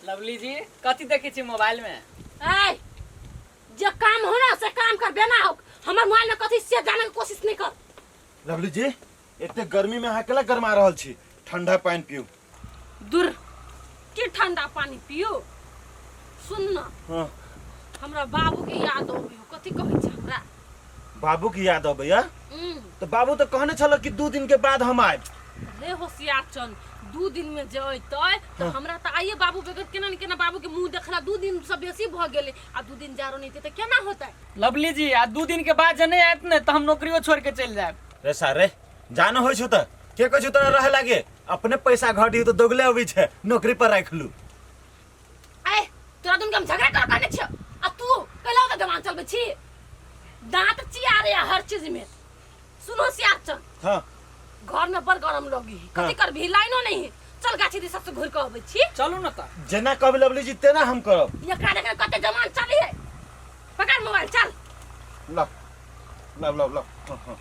Lovely ji कथी देखै छी मोबाइल में ऐ जे काम हो ना से काम कर बेना हो हमर मोबाइल में कथी से जाने के कोशिश नहीं कर लवली जी एते गर्मी में अहाँ केला गरमा रहल छी ठंडा पानी पीऊ दूर की ठंडा पानी पियो सुन ना हाँ हमरा बाबू के याद आबी हो कथी कहै छै हमरा बाबू की याद अबैया हम्म, तो बाबू तो कहने छल कि दू दिन के बाद हम आयब रे होशियार चंद दू दिन में जे अयतै तऽ हाँ। हमरा तऽ आइए बाबू बेगर केना ने केना बाबू के मुंह देखला दू दिन से बेसी भऽ गेलै आ दू दिन जारो नहि हेतै तऽ केना होतै लवली जी आ दू दिन के बाद जे नहीं आयत ने तो हम नौकरियों छोड़ के चल जाए रे सारे जान होइ छौ त के कहै छौ तोरा रहे लागे अपने पैसा घटी तो दोगले अबै छै नौकरी पर राख लू ए तोरा दुन के हम झगड़ा कर करने छियो आ तू कैला के गमान चलबे छी दांत चिया रे हर चीज में सुनो सियार चल हाँ घर में बड़ गरम लगी है। कथी करबी लाइनो नहीं है चल गाछी दी सबसे घुर के अबै छी चलू ना ता जेना कहबे लवली जी तेना हम करब एकरा देखे कते जमान चली है पकड़ मोबाइल चल ला ला ला ला हाँ, हाँ।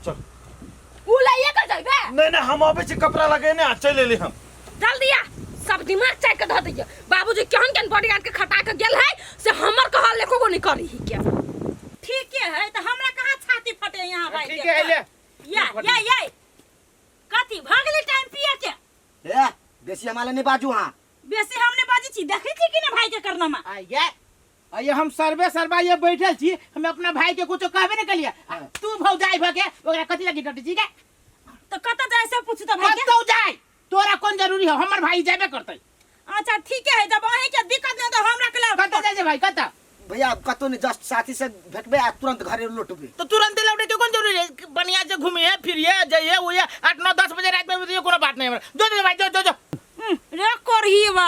चल उ लइए के जइबे नहीं नहीं हम अबे छी कपड़ा लगेने आ चल एली हम डाल दिया सब दिमाग चाट के धऽ दिया बाबूजी केहन केहन बॉडीगार्ड के खटा के गेल है से हमर कहल एको गो नहीं करी ही के ठीके है तो हमरा कहाँ छाती फटे यहाँ भाई ठीक है ले या या या कथी भगली टाइम पिए के ए बेसी हमारे नहीं बाजू हाँ बेसी हमने बाजी छी देखै छी कि ने भाई के करनामा आ ये आ ये हम सर्वे सर्वा ये बैठल छी हम अपना भाई के कुछो कहबे ने कलिया आ तू भौजाई भ के ओकरा कथि लगी डटी छी के तो कत जाए से पूछू तो भाई के कतौ जाय तोरा कोन जरूरी हो हमर भाई जाबे करतै अच्छा ठीक है जब अहे के दिक्कत नहीं तो हमरा के कतौ लाओ जाय जे भाई कतौ भैया अब कतौ नहीं जस्ट साथी से भेटबे आ तुरंत घरे लौटबे तो तुरंत लौटे के कोन जरूरी है बढ़िया से घूमिए फिरिए जाइए उइए आठ नौ दस बजे रात में भी कोनो बात नहीं हमरा जो जो भाई जो जो जो हम्म, रे कोरहीवा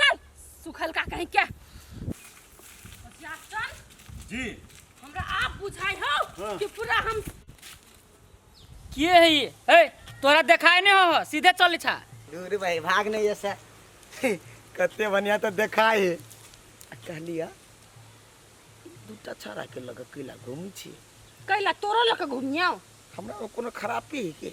चल सुखल का कहीं क्या बचिया चल जी हमरा आप बुझाई हो हाँ। कि पूरा हम के है ये है तोरा देखाय नहीं हो सीधे चल छा दूर भाई भाग नहीं ऐसा कते बढ़िया तो देखा है कहलिया दूटा छाड़ा के लगे कैला घूमी छी कैला तोरो लक घूमिया हमरा में कोनो खराबी है के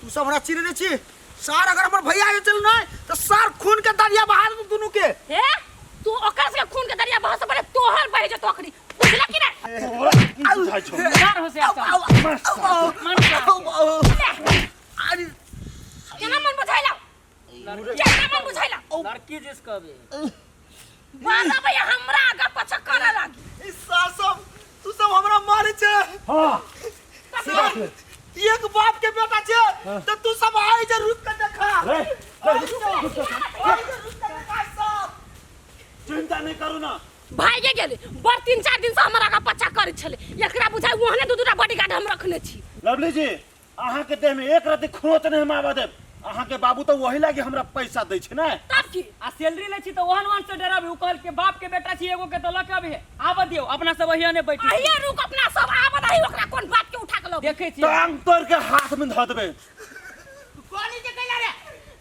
तू सब हमरा चिन्हने छी सार अगर हमर भैया जे चल नहीं तो सार खून के दरिया बहा दे दोनों के हे तू ओकर से खून के दरिया बहस पड़े तोहर बहे जो तोकरी बुझला कि ना बुझाइ छौ डर हो से आउ, आउ, आउ, आउ, आउ, आउ। अरे केना मन बुझाइला लड़की बुझैला लड़की जिस कहबे मारा भैया हमरा आगा पछा करे लागी इस सासम तू सब हमरा मारे छे हां एक बाप के बेटा छे त तू सब आइ जे रुक के देखा रे चिंता नहीं करू ना भाई के गेले बड़ तीन चार दिन से हमरा आगा पछा करे छले एकरा बुझाइ ओहने दू दूटा बॉडीगार्ड हम रखने छी लवली जी अहाँके देह में एक रति खरोच नहीं हम आबऽ देब अहाँके बाबू तो वही लागे हमरा पैसा दै छै ने तब की आ सैलरी लै छी तऽ ओहन ओहन से डराबी ओ कहल के बाप के बेटा छी एगो के तऽ लके अभी आबऽ दियौ अपना सब वही ने बैठी अहिया रुक अपना सब आबऽ दही ओकरा कोन बात के उठा के लो देखे छी टांग तोड़ के हाथ में धऽ देबै कोनी जे कैला रे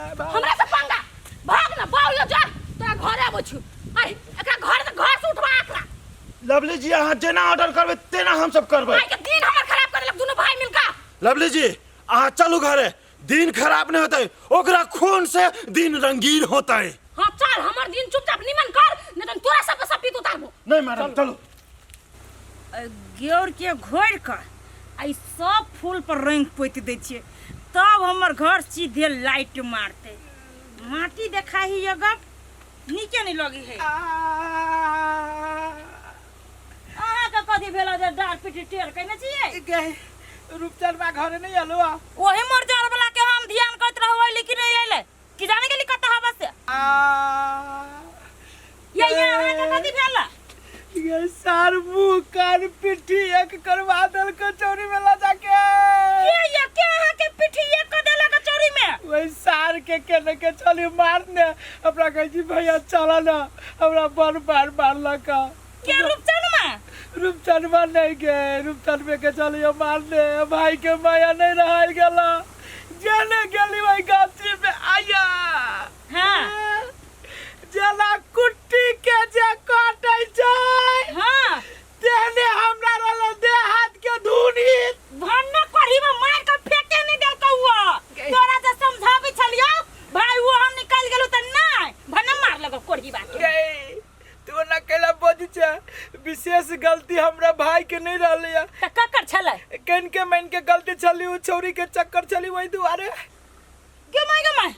हमरा से पंगा भाग ना बाउल ना जा तोरा घरे आबै छु अरे एकरा घर से घर से उठवा एकरा लवली जी अहाँ जेना ऑर्डर करबै तेना हमसभ करबै आइ के दिन हमर खराब कर देलक दुनू भाई मिलका लवली जी अहाँ चलू घरे दिन खराब नहि होतै ओकरा खून से दिन रंगीन होतै हाँ चल हमर दिन चुपचाप निमन कर नहीं तो तोरा सब के सब पीत उतारबो नहि मैडम चलू गेउरके घोरि कऽ आ ई सब फूल पर रंग पोति दै छियै तब हमर घर सीधे लाइट मारते माटी देखा ही ये गप नीके नहीं लगी है अहाँ के कथी भेला जे डार पीटी टेर कइने छियै गए रूपचन बा घरे नहीं आलो ओही मोर जर वाला के हम ध्यान करत रहबै लेकिन नहीं अइले कि जाने के लिखत हवा से आ ये ये हमरा के कथी भेल ये सार मुंह कान पिट्ठी एक करवा दल कचौरी में ला जाके के ये के अहाँ के पिठी एक क देला कचौरी में वही सार के केने के चली मारने अपना कहे जी भैया चला ना हमरा बड़ बार मारलक क्या रूपचनमा रूपचनमा नहीं के रूपचनमे के चलियो मारने भाई के माया नहीं रहा गला जेने गेली वही गाछी में आया हाँ जेला कुट्टी के जे काटे छै हाँ तेने हमरा रल दे हाथ के धुनी भन्ना करी में मार के फेटे नहीं दे कौआ तोरा जे समझाबे छलियो भाई वो हम निकल गेलु त नहीं भन्ना मार लगो कोढ़ी बात के। तू ना कैला बज छे विशेष गलती हमरा भाई के नहीं रहले है तऽ ककर छलै कन के मन के गलती छली उ छौरी के चक्कर छली वही दुआरे गे माय गे माय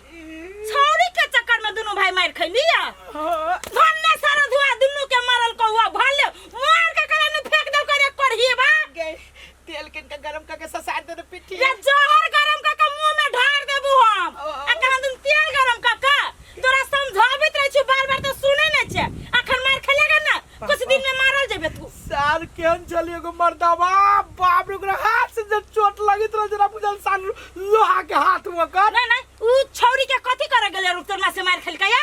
छौरी के चक्कर में दुनू भाई मार खैली या हाँ, भन्ने सारा धुआ दुनू के मारल कौआ भले मार के कला ने फेंक दे करे करही बा गे तेल किन के गरम करके ससार दे दे पिट्ठी ये जहर गरम क के मुंह में ढार देबू हम ओ, ओ। आ कहन तुम तेल गरम क के तोरा समझाबित रह छी बार बार तो सुनै नै छै अखन मार खेलेगा ना कुछ दिन में मारल जेबे तू सार केहन छली एगो मर्दवा बाप रे ओकरा हाथ से जब चोट लगित रहे जरा बुझल सार लोहा के हाथ में कर नै नै उ छौरी के कथि करे गेले रुक तोर मां से मार खेलकै या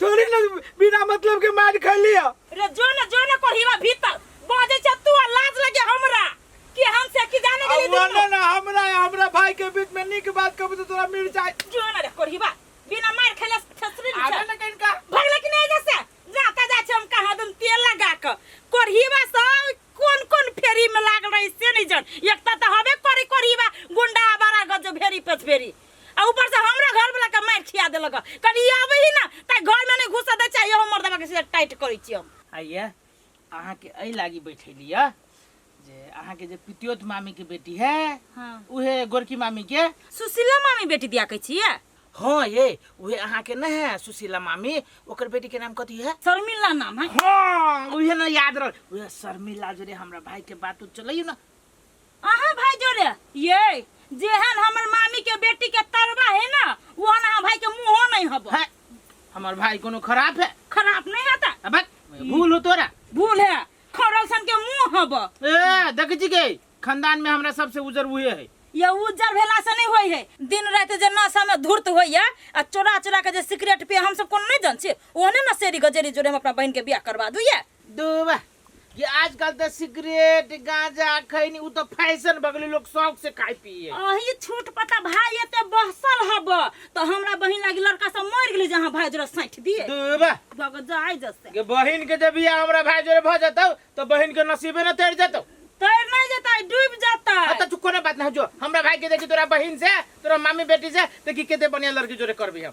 थोड़ी ना बिना मतलब के मार खा लिया रे जो ना जो ना कोढ़ीवा भीतर बाजे छ तू आ लाज लगे हमरा कि हम से की जाने के लिए अब दुनू ना ना हमरा हमरा भाई के बीच में निक बात कब तो तोरा मिल जाए जो ना रे कोढ़ीवा बिना मार खेले थसरी आवे नहीं ना कहीं का भगले कि नहीं जैसे जाता जा छ हम कहा दम तेल लगा के कोढ़ीवा से कोन कोन फेरी में लाग रही से नहीं जन एकता तो हबे करी कोढ़ीवा गुंडा बारा गज भेरी पेट भेरी आ ऊपर से हमरा घर वाला के मार खिया देलक कल ई आवे ही ना त घर में नहीं घुसा दे चाहिए हमर दबा के सीधा टाइट करै छी हम आइए अहाँके एहि लागी बैठेली यऽ जे अहाँके जे पितियोत मामीके बेटी है हां उहे गोरकी मामीके सुशीला मामी बेटी दिया कहै छियै हँ ये उहे अहाँके नहि है सुशीला मामी ओकर बेटीके नाम कथी है शर्मिला नाम है हँ उहे ने याद रहल उहे शर्मिला जोरे हमरा भाइके बात उत चलैयो ने अहाँ भाई जोरे ये जेहन हमर मामी के बेटी के तरवा है ना ओहन अहाँ भाई के मुंहो नहीं हबो है हमार भाई कोनो खराब है खराब नहीं हता अब भूल हो तोरा भूल है खरल सन के मुंह हबो ए देख जी के खानदान में हमरा सबसे उजर हुए है ये उज्जर भेला से नहीं होई है दिन रात जे नशा में धूर्त होइए आ चोरा चोरा के जे सिगरेट पिए हम सब कोनो नहीं जान छी ओहने ना सेरी गजेरी जोरे हम अपना बहन के बियाह करवा दुइए दूबा कि आजकल तऽ सिगरेट गांजा खैनी उ तऽ फैशन भऽ गेलै लोग शौक से खाय पिए अही छूट पर तऽ भाय एते बहसल हब तऽ हमरा बहिन लागी लड़का सब मर गेलै जहाँ भाय जोरा सैठ दिए दूबा भग जाय जसे के बहिन के जब बियाह हमरा भाय जोरे भऽ जतौ तऽ बहिन के नसीबे न तैर जतौ तैर नहीं जता डूब जाता आ तऽ तू कोनो बात ना जो हमरा भाई के देखी तोरा बहिन से तोरा मामी बेटी से देखी केते बढ़िया लड़की जोरे करबी हम